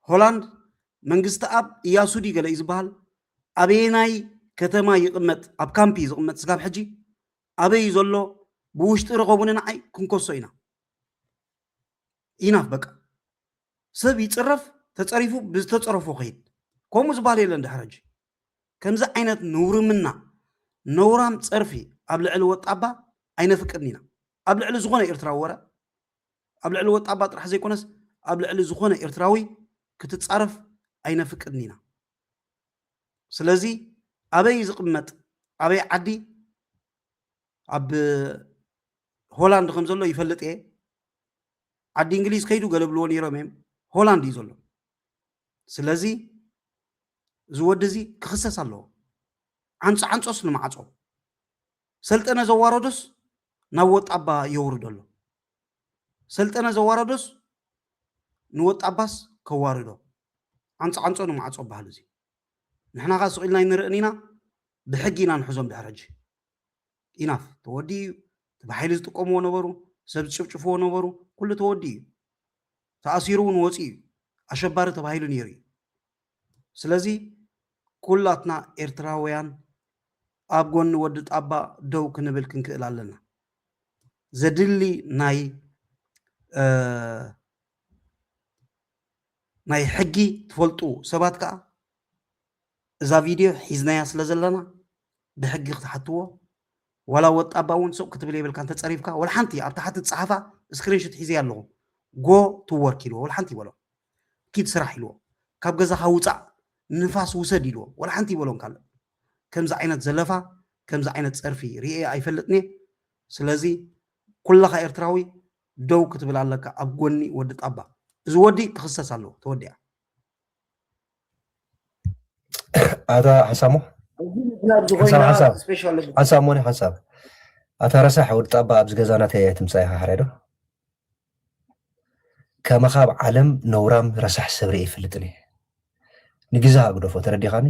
ሆላንድ መንግስቲ ኣብ እያሱ ድዩ ገለ እዩ ዝበሃል ኣበየናይ ከተማ ይቕመጥ ኣብ ካምፒ እዩ ዝቕመጥ ስጋብ ሕጂ ኣበይ እዩ ዘሎ ብውሽጢ ረኸቡኒ ንዓይ ክንከሶ ኢና ኢናፍ በቃ ሰብ ይጽረፍ ተጸሪፉ ብዝተጸረፎ ክይድ ከምኡ ዝባል የለን ድሕር ሕጂ ከምዚ ዓይነት ንውርምና ነውራም ጸርፊ ኣብ ልዕሊ ወጣባ ኣይነፍቅድን ኢና ኣብ ልዕሊ ዝኾነ ኤርትራዊ ወረ ኣብ ልዕሊ ወጣባ ጥራሕ ዘይኮነስ ኣብ ልዕሊ ዝኾነ ኤርትራዊ ክትጻረፍ ኣይነፍቅድን ኢና ስለዚ ኣበይ ዝቕመጥ ኣበይ ዓዲ ኣብ ሆላንድ ከም ዘሎ ይፈልጥ እየ ዓዲ እንግሊዝ ከይዱ ገለብልዎ ነይሮም እዮም ሆላንድ እዩ ዘሎ ስለዚ እዚ ወዲ እዚ ክኽሰስ ኣለዎ ዓንፆ ዓንፆስ ንማዕፆ ሰልጠነ ዘዋረዶስ ናብ ወጣባ የውርዶ ኣሎ ሰልጠነ ዘዋረዶስ ንወጣባስ ከዋርዶ ዓንፆ ዓንፆ ንማዕፆ በሃል እዚ ንሕና ከዓ ስቂልና ይንርእን ኢና ብሕጊ ኢና ንሕዞም ድሕረጂ ኢናፍ ተወዲኡ እዩ እቲ ብሓይሊ ዝጥቀምዎ ነበሩ ሰብ ዝጭፍጭፍዎ ነበሩ ኩሉ ተወዲኡ እዩ ተኣሲሩ እውን ወፂኡ እዩ ኣሸባሪ ተባሂሉ ነይሩ እዩ ስለዚ ኩላትና ኤርትራውያን ኣብ ጎኒ ወዲ ጣባ ደው ክንብል ክንክእል ኣለና ዘድሊ ናይ ናይ ሕጊ ትፈልጡ ሰባት ከዓ እዛ ቪድዮ ሒዝናያ ስለ ዘለና ብሕጊ ክትሓትዎ ዋላ ወጣባ እውን ሱቅ ክትብል የብልካ እንተ ጸሪፍካ ወላ ሓንቲ ኣብ ታሕቲ ትጽሓፋ ስክሪንሹት ሒዘያ ኣለኹ ጎ ቱ ወርክ ኢልዎ ወላ ሓንቲ ይበሎ ኪድ ስራሕ ኢልዎ ካብ ገዛኻ ውጻእ ንፋስ ውሰድ ኢልዎ ወላ ሓንቲ ይበሎም ካልእ ከምዚ ዓይነት ዘለፋ ከምዚ ዓይነት ጸርፊ ርኤ ኣይፈልጥን እየ ስለዚ ኩላኻ ኤርትራዊ ደው ክትብል ኣለካ ኣብ ጎኒ ወዲ ጣባ እዚ ወዲ ክኽሰስ ኣለዎ ተወዲኣ ኣታ ሓሳሙ ሓሳብ ሞኒ ሓሳብ ኣታ ረሳሕ ወዲ ጣባ ኣብዚ ገዛ ናተይ ኣይትምፃ ኢኻ ሓረዶ ከመኻ ኣብ ዓለም ነውራም ረሳሕ ሰብሪ ይፍልጥኒ ንግዛ ኣግደፎ ተረዲኻኒ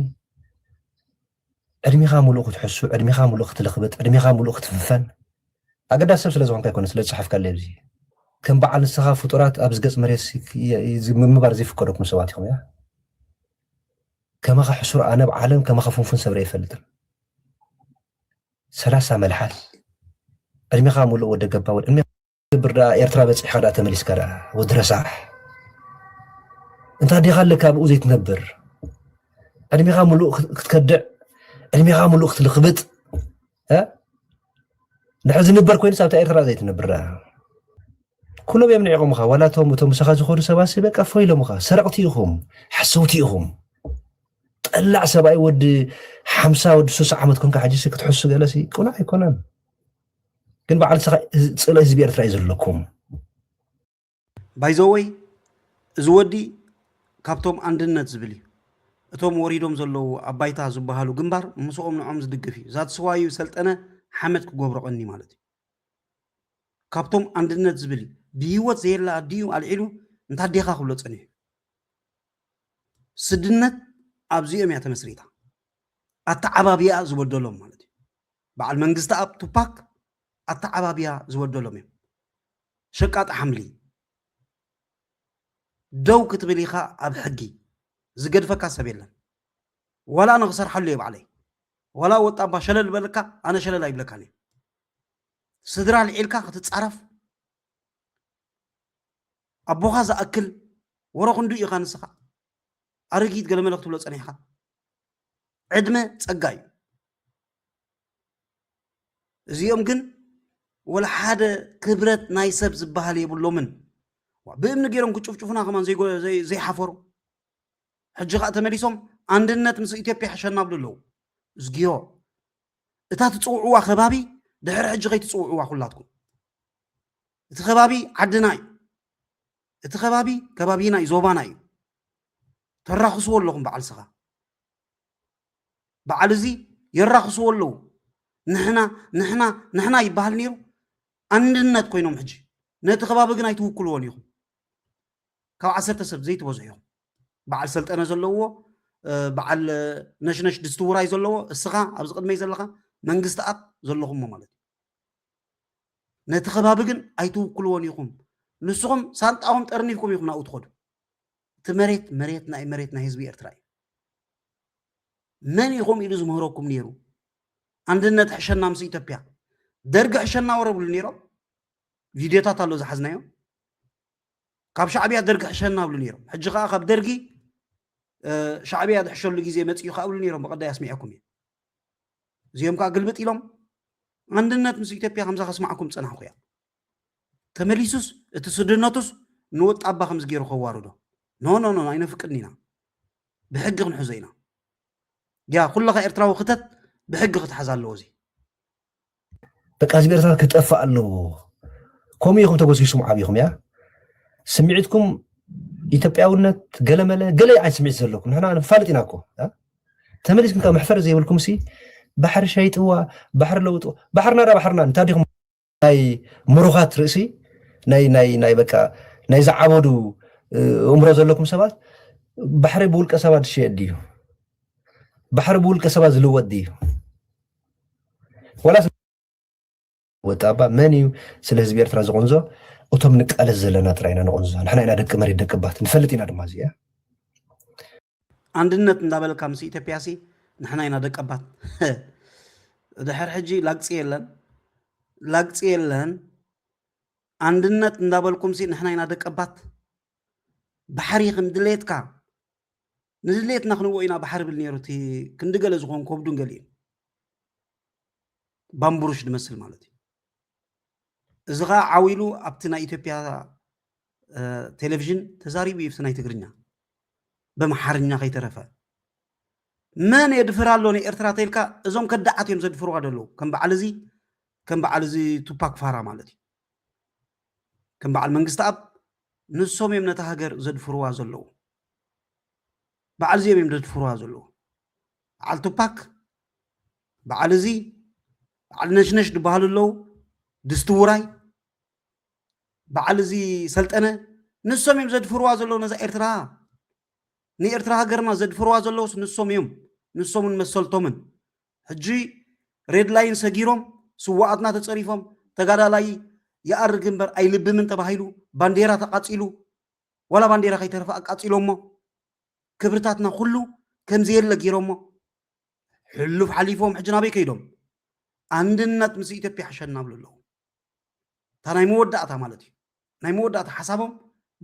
ዕድሜኻ ሙሉእ ክትሕሱ፣ ዕድሜኻ ሙሉእ ክትልኽብጥ፣ ዕድሜኻ ሙሉእ ክትፍንፈን ኣገዳሲ ሰብ ስለ ዝኾንካ ኣይኮነን ስለ ዝጸሓፍካለይ ኣብዚ ከም በዓል ንስኻ ፍጡራት ኣብዚ ገጽ መሬት ምንባር ዘይፍቀደኩም ሰባት ኢኹም እያ ከማኻ ሕሱር ኣነ ኣብ ዓለም ከማኻ ፍንፉን ሰብረ ይፈልጥን ሰላሳ መልሓስ ዕድሜኻ ሙሉእ ወደ ገባ ወደ ክትገብር ደኣ ኤርትራ በጺሕካ ደኣ ተመሊስካ ደኣ ወዲ ረሳሕ እንታ ዲኻ ኣለካ ኣብኡ ዘይትነብር ዕድሜኻ ምሉእ ክትከድዕ ዕድሜኻ ምሉእ ክትልኽብጥ ንሕዚ ንበር ኮይኑ ሳብታ ኤርትራ ዘይትነብር ደኣ ኩሎም እዮም ንዒቆምኻ ዋላ እቶም እቶም ምሳኻ ዝኾኑ ሰባሲ በቃ ፎ ኢሎምኻ ሰረቕቲ ኢኹም ሓሰውቲ ኢኹም ጠላዕ ሰብኣይ ወዲ ሓምሳ ወዲ ሱሳ ዓመት ኮንካ ሕጂሲ ክትሕሱ ገለሲ ቁናዕ ኣይኮነን ግን በዓል ንስኻ ጽሎ ህዝቢ ኤርትራ እዩ ዘለኩም ባይዘወይ እዚ ወዲ ካብቶም ኣንድነት ዝብል እዩ እቶም ወሪዶም ዘለዉ ኣብ ባይታ ዝበሃሉ ግንባር ምስኦም ንዖም ዝድግፍ እዩ ዛትስዋዩ ሰልጠነ ሓመድ ክገብሮ ቀኒ ማለት እዩ ካብቶም ኣንድነት ዝብል እዩ ብሂወት ዘየላ ኣዲኡ ኣልዒሉ እንታ ኣዴኻ ክብሎ ጸኒሑ ስድነት ኣብዚኦም እያ ተመስሪታ ኣተዓባቢያ ዝበደሎም ማለት እዩ በዓል መንግስተኣብ ቱፓክ ኣተዓባብያ ዝበደሎም እዮም ሸቃጢ ሓምሊ ደው ክትብል ኢኻ ኣብ ሕጊ ዝገድፈካ ሰብ የለን ዋላ ኣነ ክሰርሓሉ እየ ባዕለይ ዋላ ወጣባ ሸለል በለካ ኣነ ሸለል ኣይብለካን እየ ስድራ ልዒልካ ክትፃረፍ ኣቦኻ ዝኣክል ወረ ክንዱ ኢኻ ንስኻ ኣረጊት ገለ መለ ክትብሎ ፀኒሕካ ዕድመ ፀጋ እዩ እዚኦም ግን ወላ ሓደ ክብረት ናይ ሰብ ዝበሃል የብሎምን ብእምኒ ገይሮም ክጭፍጭፉና ከማን ዘይሓፈሩ ሕጂ ከዓ ተመሊሶም ኣንድነት ምስ ኢትዮጵያ ሕሸና ብሉ ኣለዉ እዝግዮ እታ ትፅውዕዋ ከባቢ ድሕሪ ሕጂ ከይትፅውዕዋ ኩላትኩም እቲ ከባቢ ዓድና እዩ እቲ ከባቢ ከባቢና እዩ ዞባና እዩ ተራኽስዎ ኣለኹም በዓል ስኻ በዓል እዚ የራኽስዎ ኣለዉ ንሕና ንሕና ንሕና ይበሃል ነይሩ ኣንድነት ኮይኖም ሕጂ ነቲ ከባቢ ግን ኣይትውክልዎን ኢኹም ካብ ዓሰርተ ሰብ ዘይትበዝሑ ኢኹም በዓል ሰልጠነ ዘለዎ በዓል ነሽነሽ ድስቲ ውራይ ዘለዎ እስኻ ኣብዚ ቅድመይ ዘለኻ መንግስቲ ኣብ ዘለኹሞ ማለት እዩ ነቲ ከባቢ ግን ኣይትውክልዎን ኢኹም ንስኹም ሳንጣኹም ጠርኒፍኩም ኢኹም ናብኡ ትኸዱ እቲ መሬት መሬትና እዩ መሬት ናይ ህዝቢ ኤርትራ እዩ መን ኢኹም ኢሉ ዝምህረኩም ነይሩ ኣንድነት ሕሸና ምስ ኢትዮጵያ ደርጊ ሕሸና ወረብሉ ነይሮም ቪድዮታት ኣሎ ዝሓዝናዮ ካብ ሻዕብያ ደርጊ ሕሸና ብሉ ነይሮም ሕጂ ከዓ ካብ ደርጊ ሻዕብያ ዝሕሸሉ ግዜ መፅኡ ከዓ ብሉ ነይሮም ብቀዳይ ኣስሚዐኩም እየ እዚኦም ከዓ ግልብጥ ኢሎም ኣንድነት ምስ ኢትዮጵያ ከምዛ ከስማዕኩም ፀናሕኩ እያ ተመሊሱስ እቲ ስድነቱስ ንወጣባ ከምዚ ገይሩ ከዋርዶ ኖኖኖ ኣይነፍቅድን ኢና ብሕጊ ክንሕዞ ኢና ያ ኩለኻ ኤርትራዊ ክተት ብሕጊ ክትሓዝ ኣለዎ እዚ በቃ ህዝቢ ኤርትራ ክጠፋእ ኣለዎ ከምኡ ኢኹም ተጎስጊስኩም ዓብኹም እያ ስምዒትኩም ኢትዮጵያውነት ገለመለ ገለ ዓይነት ስምዒት ዘለኩም ንሕና ንፋልጥ ኢና እኮ ተመሊስኩም ካብ መሕፈሪ ዘይብልኩም ሲ ባሕሪ ሸይጥዋ ባሕሪ ለውጥዋ ባሕርና ዳ ባሕርና እንታይ ዲኹም ናይ ምሩኻት ርእሲ ናይ ናይ ናይ በቃ ናይ ዝዓበዱ እምሮ ዘለኩም ሰባት ባሕሪ ብውልቀ ሰባት ዝሽየጥ ድዩ? ባሕሪ ብውልቀ ሰባት ዝልወጥ ድዩ? ዋላስ ወጣ ኣባ መን እዩ ስለ ህዝቢ ኤርትራ ዝቕንዞ? እቶም ንቃለስ ዘለና ጥራይ ኢና ንቕንዞ። ንሕና ኢና ደቂ መሬት ደቂ ባት ንፈልጥ ኢና ድማ እዚ ኣንድነት እንዳበልካ ምስ ኢትዮጵያ ሲ ንሕና ኢና ደቀባት ድሕር ሕጂ ላግፂ የለን ላግፂ የለን ኣንድነት እንዳበልኩም ሲ ንሕና ኢና ደቀባት ባሕሪ ከም ድሌትካ ንድሌትና ክንዎ ኢና ባሕሪ ብል ነይሩ እቲ ክንዲ ገለ ዝኾን ከብዱን ገሊኡን ባምቡሩሽ ድመስል ማለት እዩ እዚ ከዓ ዓው ኢሉ ኣብቲ ናይ ኢትዮጵያ ቴሌቭዥን ተዛሪቡ እዩ ናይ ትግርኛ በምሓርኛ ከይተረፈ መን የድፍር ኣሎ ንኤርትራ ተልካ እዞም ከዳዓት እዮም ዘድፍርዋ ዘለዉ ከም በዓል እዚ ከም በዓል እዚ ቱፓክ ፋራ ማለት እዩ ከም በዓል መንግስቲ ኣብ ንሶም እዮም ነታ ሃገር ዘድፍርዋ ዘለዉ በዓል እዚኦም እዮም ዘድፍርዋ ዘለዉ በዓል ቱፓክ በዓል እዚ በዓል ነሽነሽ ዝበሃሉ ኣለው ድስቲ ውራይ በዓል እዚ ሰልጠነ ንሶም እዮም ዘድፍርዋ ዘለዉ ነዛ ኤርትራ ንኤርትራ ሃገርና ዘድፍርዋ ዘለውስ ንሶም እዮም ንሶምን መሰልቶምን ሕጂ ሬድ ላይን ሰጊሮም ስዋኣትና ተፀሪፎም ተጋዳላይ ይኣርግ እምበር ኣይልብምን ተባሂሉ ባንዴራ ተቃፂሉ ዋላ ባንዴራ ከይተረፈ ኣቃፂሎሞ ክብርታትና ኩሉ ከምዘየለ ገይሮሞ ሕሉፍ ሓሊፎም ሕጂ ናበይ ከይዶም ኣንድነት ምስ ኢትዮጵያ ሕሸና ብሉ ኣለዉ እታ ናይ መወዳእታ ማለት እዩ ናይ መወዳእታ ሓሳቦም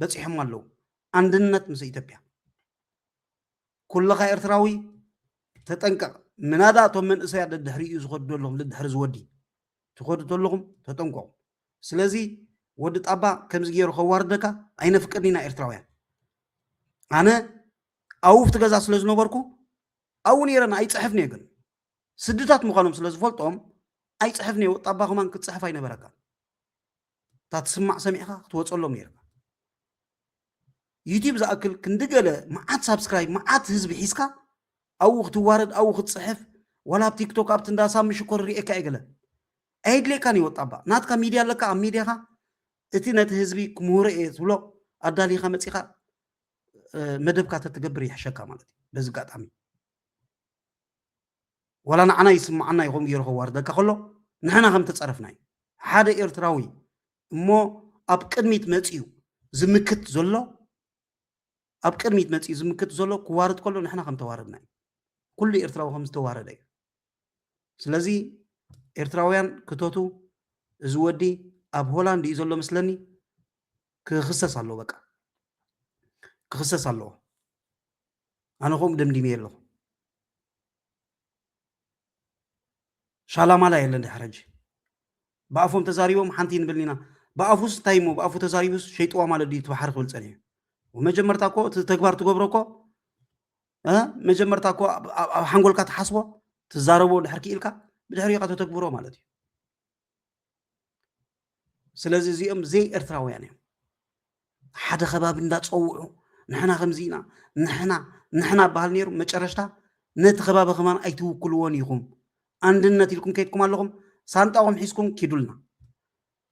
በፂሖም ኣለዉ ኣንድነት ምስ ኢትዮጵያ ኩልኻ ኤርትራዊ ተጠንቀቕ ምናዳ እቶም መንእሰያት ደድሕሪኡ ዝኸዱ ዘለኹም ደድሕሪ ዝወዲ ትኸዱ ተለኹም ተጠንቀቑ ስለዚ ወዲ ጣባ ከምዚ ገይሩ ከዋርደካ ኣይነፍቅድን ኢና ኤርትራውያን ኣነ ኣውፍቲ ገዛ ስለ ዝነበርኩ ኣብኡ ነይረ ኣይፅሕፍን እየ ግን ስድታት ምዃኖም ስለ ዝፈልጦም ኣይፅሕፍን እየ ወጣ ኣባ ከማን ክትፅሕፍ ኣይነበረካን እታ ትስማዕ ሰሚዕካ ክትወፀሎም ነይርካ ዩቲብ ዝኣክል ክንዲ ገለ መዓት ሳብስክራይብ መዓት ህዝቢ ሒዝካ ኣብኡ ክትዋረድ ኣብኡ ክትፅሕፍ ዋላ ኣብ ቲክቶክ ኣብቲ እንዳ ሳሚ ሽኮር ርኤካ እየ ገለ ኣየድልየካን ይወጣ እባ ናትካ ሚድያ ኣለካ ኣብ ሚድያኻ እቲ ነቲ ህዝቢ ክምህሮ እየ ትብሎ ኣዳሊኻ መፂኻ መደብካ ተትገብር ይሕሸካ ማለት እዩ በዚ ኣጋጣሚ ዋላ ንዓና ይስምዓና እዩ ከምኡ ገይሩ ከዋርደካ ከሎ ንሕና ከም ተፀረፍና እዩ ሓደ ኤርትራዊ እሞ ኣብ ቅድሚት መፅኡ ዝምክት ዘሎ ኣብ ቅድሚት መፅኡ ዝምክት ዘሎ ክዋርድ ከሎ ንሕና ከም ተዋረድና እዩ ኩሉ ኤርትራዊ ከም ዝተዋረደ እዩ ስለዚ ኤርትራውያን ክተቱ እዚ ወዲ ኣብ ሆላንድ እዩ ዘሎ ምስለኒ ክኽሰስ ኣለዎ በቃ ክኽሰስ ኣለዎ ኣነ ከምኡ ደምዲመ ኣለኹ ሻላማላ የለን ድሕር ሕጂ ብኣፎም ተዛሪቦም ሓንቲ ንብል ኢና ብኣፉስ እንታይ እሞ ብኣፉ ተዛሪቡስ ሸይጥዋ ማለት ድዩ እቲ ባሕሪ ክብል ፀኒሑ መጀመርታ እኮ እቲ ተግባር ትገብሮ እኮ መጀመርታ እኮ ኣብ ሓንጎልካ ትሓስቦ ትዛረቦ ድሕር ክኢልካ ብድሕሪ ኢኻ ተተግብሮ ማለት እዩ ስለዚ እዚኦም ዘይ ኤርትራውያን እዮም ሓደ ከባቢ እንዳፀውዑ ንሕና ከምዚ ኢና ንሕና ንሕና በሃል ነይሩ መጨረሽታ ነቲ ከባቢ ከማን ኣይትውክልዎን ኢኹም ኣንድነት ኢልኩም ከይድኩም ኣለኹም ሳንጣኹም ሒዝኩም ኪዱልና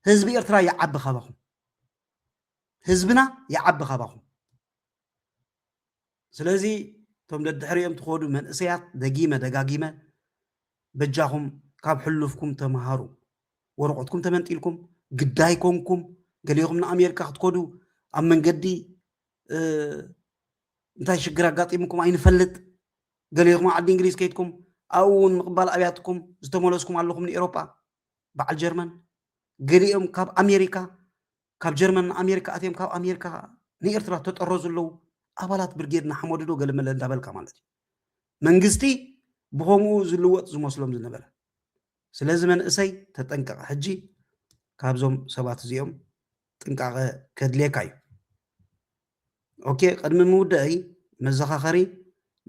ህዝቢ ኤርትራ ይዓቢ ካባኹም ህዝብና ይዓቢ ካባኹም ስለዚ እቶም ደድሕሪኦም ትኸዱ መንእሰያት ደጊመ ደጋጊመ በጃኹም ካብ ሕሉፍኩም ተምሃሩ ወረቆትኩም ተመንጢልኩም ግዳይ ኮንኩም ገሊኹም ንኣሜሪካ ክትከዱ ኣብ መንገዲ እንታይ ሽግር ኣጋጢሙኩም ኣይንፈልጥ ገሊኹም ዓዲ እንግሊዝ ከይድኩም ኣብኡ እውን ምቕባል ኣብያትኩም ዝተመለስኩም ኣለኹም ንኤሮጳ በዓል ጀርመን ገሊኦም ካብ ኣሜሪካ ካብ ጀርመን ንኣሜሪካ ኣትዮም ካብ ኣሜሪካ ንኤርትራ ተጠረዙ ኣለው ኣባላት ብርጌድ ንሓመዱ ዶ ገለመለ እንዳበልካ ማለት እዩ መንግስቲ ብኸምኡ ዝልወጥ ዝመስሎም ዝነበረ ስለዚ መንእሰይ ተጠንቀቕ ሕጂ ካብዞም ሰባት እዚኦም ጥንቃቐ ከድልየካ እዩ ኦኬ ቅድሚ ምውዳእይ መዘኻኸሪ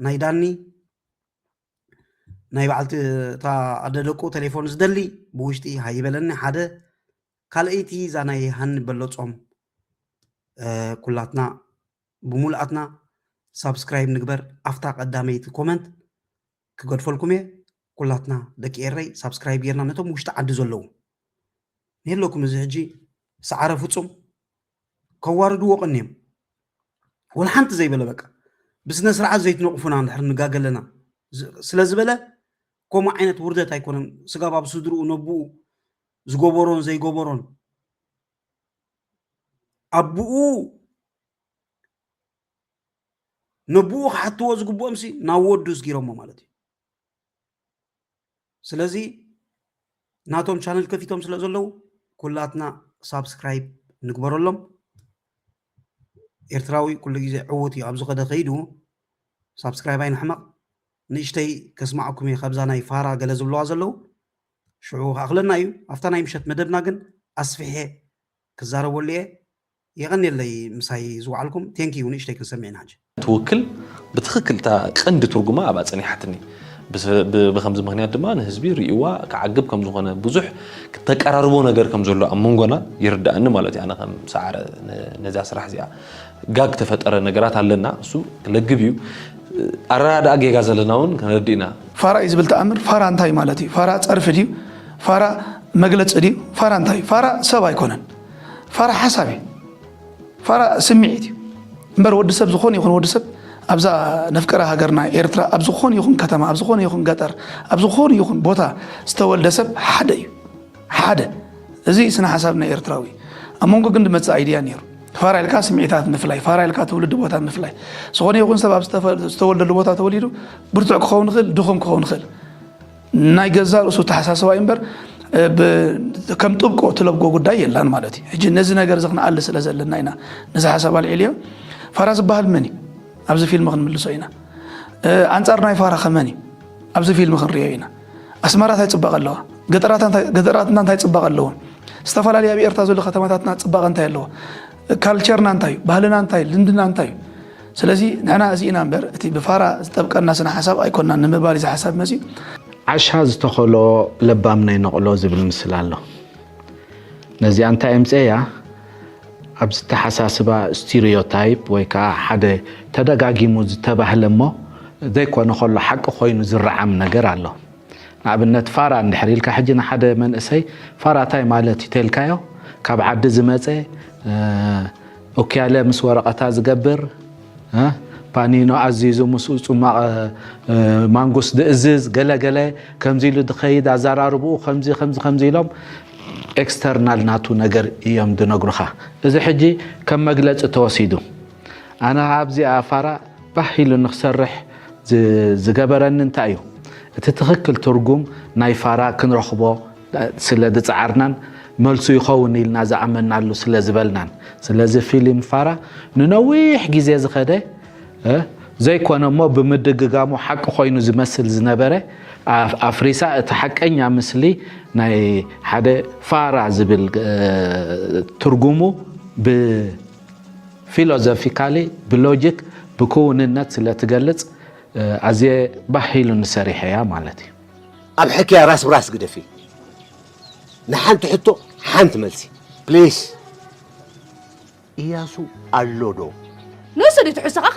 ናይ ዳኒ ናይ በዓልቲ እታ ኣደ ደቁ ቴሌፎን ዝደሊ ብውሽጢ ሃይበለኒ ሓደ ካልኣይቲ እዛ ናይ ሃኒ በለፆም ኩላትና ብሙሉኣትና ሳብስክራይብ ንግበር ኣፍታ ቀዳመይቲ ኮመንት ክገድፈልኩም እየ ኩላትና ደቂ ኤረይ ሳብስክራይብ ጌርና ነቶም ውሽጢ ዓዲ ዘለዉ ንህለኩም እዚ ሕጂ ሰዓረ ፍፁም ከዋርድዎ ቀንዮም ወላ ሓንቲ ዘይበለ በቃ ብስነ ስርዓት ዘይትነቕፉና እንድሕር ንጋገ ኣለና ስለ ዝበለ ከምኡ ዓይነት ውርደት ኣይኮነን ስጋብ ኣብ ስድርኡ ነብኡ ዝገበሮን ዘይገበሮን ኣቦኡ ነብኡ ክሓትዎ ዝግብኦም ሲ ናብ ወዱ ስጊሮሞ ማለት እዩ ስለዚ ናቶም ቻነል ከፊቶም ስለ ዘለዉ ኩላትና ሳብስክራይብ ንግበረሎም ኤርትራዊ ኩሉ ግዜ ዕዉት እዩ ኣብ ዝኸደ ከይዱ ሳብስክራይብ ኣይንሕመቕ ንእሽተይ ከስማዕኩም እየ ካብዛ ናይ ፋራ ገለ ዝብለዋ ዘለዉ ሽዑ ክኣኽለና እዩ ኣብታ ናይ ምሸት መደብና ግን ኣስፍሐ ክዛረበሉ እየ የቐኔለይ ምሳይ ዝወዓልኩም thank you ንእሽተይ ክንሰምዕ ኢና ሕጂ። ትውክል ብትኽክል እታ ቀንዲ ትርጉማ ኣብኣ ጸኒሓትኒ ብከምዚ ምክንያት ድማ ንህዝቢ ሪኢዋ ክዓግብ ከም ዝኮነ ብዙሕ ተቀራርቦ ነገር ከም ዘሎ ኣብ መንጎና ይርዳኣኒ ማለት እዩ ኣነ ከም ሰዓረ ነዚኣ ስራሕ እዚኣ ጋግ ተፈጠረ ነገራት ኣለና እሱ ክለግብ እዩ ኣረዳድኣ ጌጋ ዘለና እውን ክንረድእ ኢና ፋራ እዩ ዝብል ተኣምር ፋራ እንታይ ማለት እዩ ፋራ ጸርፊ ድዩ ፋራ መግለጺ ድዩ ፋራ እንታይ ፋራ ሰብ ኣይኮነን ፋራ ሓሳብ እዩ ፋራ ስምዒት እዩ እምበር ወዲ ሰብ ዝኾነ ይኹን ወዲ ሰብ ኣብዛ ነፍቀረ ሃገርና ኤርትራ ኣብ ዝኾነ ይኹን ከተማ ኣብ ዝኾነ ይኹን ገጠር ኣብ ዝኾነ ይኹን ቦታ ዝተወልደ ሰብ ሓደ እዩ ሓደ እዚ ስነ ሓሳብ ናይ ኤርትራዊ ኣብ መንጎ ግን ድመፅእ ኣይድያ ነይሩ ፋራ ኢልካ ስምዒታት ምፍላይ ፋራ ኢልካ ትውልዲ ቦታ ምፍላይ ዝኾነ ይኹን ሰብ ኣብ ዝተወልደሉ ቦታ ተወሊዱ ብርቱዕ ክኸውን ይኽእል ድኹም ክኸውን ይኽእል ናይ ገዛ ርእሱ ተሓሳስባ እዩ እምበር ከም ጥብቆ ትለብጎ ጉዳይ የላን ማለት እዩ ሕጂ ነዚ ነገር እዚ ክንኣሊ ስለ ዘለና ኢና ነዚ ሓሳብ ኣልዒልዮ ፋራ ዝበሃል መን እዩ ኣብዚ ፊልም ክንምልሶ ኢና ኣንጻር ናይ ፋራ ከመን እዩ ኣብዚ ፊልም ክንሪኦ ኢና ኣስመራ እንታይ ፅባቐ ኣለዋ ገጠራትና እንታይ ፅባቐ ኣለዎም ዝተፈላለዩ ኣብ ኤርትራ ዘሎ ከተማታትና ፅባቐ እንታይ ኣለዎ ካልቸርና እንታይ እዩ ባህልና እንታይ እዩ ልምድና እንታይ እዩ ስለዚ ንሕና እዚ ኢና እምበር እቲ ብፋራ ዝጠብቀና ስነ ሓሳብ ኣይኮናን ንምባል እዚ ሓሳብ መፅዩ ዓሻ ዝተኸሎ ለባም ናይ ነቕሎ ዝብል ምስል ኣሎ ነዚኣ እንታይ እምፀያ ኣብ ዝተሓሳስባ ስቲሪዮታይፕ ወይ ከዓ ሓደ ተደጋጊሙ ዝተባህለ እሞ ዘይኮነ ከሎ ሓቂ ኮይኑ ዝረዓም ነገር ኣሎ ንኣብነት ፋራ እንድሕር ኢልካ ሕጂ ንሓደ መንእሰይ ፋራ ታይ ማለት እዩ ተልካዮ ካብ ዓዲ ዝመፀ ኡክያለ ምስ ወረቐታ ዝገብር ፓኒኖ ኣዚዙ ምስኡ ጽማቕ ማንጉስ ዝእዝዝ ገለገለ ከምዚ ኢሉ ዝኸይድ ኣዘራርብኡ ከምዚ ከምዚ ከምዚ ኢሎም ኤክስተርናል ናቱ ነገር እዮም ዝነግሩኻ። እዚ ሕጂ ከም መግለጺ ተወሲዱ። ኣነ ኸዓ ኣብዚኣ ፋራ ባህ ኢሉኒ ክሰርሕ ዝገበረኒ እንታይ እዩ? እቲ ትኽክል ትርጉም ናይ ፋራ ክንረኽቦ ስለ ዝጸዓርናን መልሱ ይኸውን ኢልና ዝኣመንናሉ ስለ ዝበልናን። ስለዚ ፊልም ፋራ ንነዊሕ ግዜ ዝኸደ ዘይኮነ እሞ ብምድግጋሙ ሓቂ ኮይኑ ዝመስል ዝነበረ ኣፍሪሳ እቲ ሓቀኛ ምስሊ ናይ ሓደ ፋራ ዝብል ትርጉሙ ብ ፊሎዞፊካሊ ብሎጂክ ብክውንነት ስለ ትገልጽ ኣዝየ ባህ ኢሉኒ ሰሪሐያ ማለት እዩ። ኣብ ሕክያ ራስ ብራስ ግደፊ ንሓንቲ ሕቶ ሓንቲ መልሲ ፕሊስ። ኢያሱ ኣሎ ዶ? ንሱ ድዩ ትሕዝቶኻ?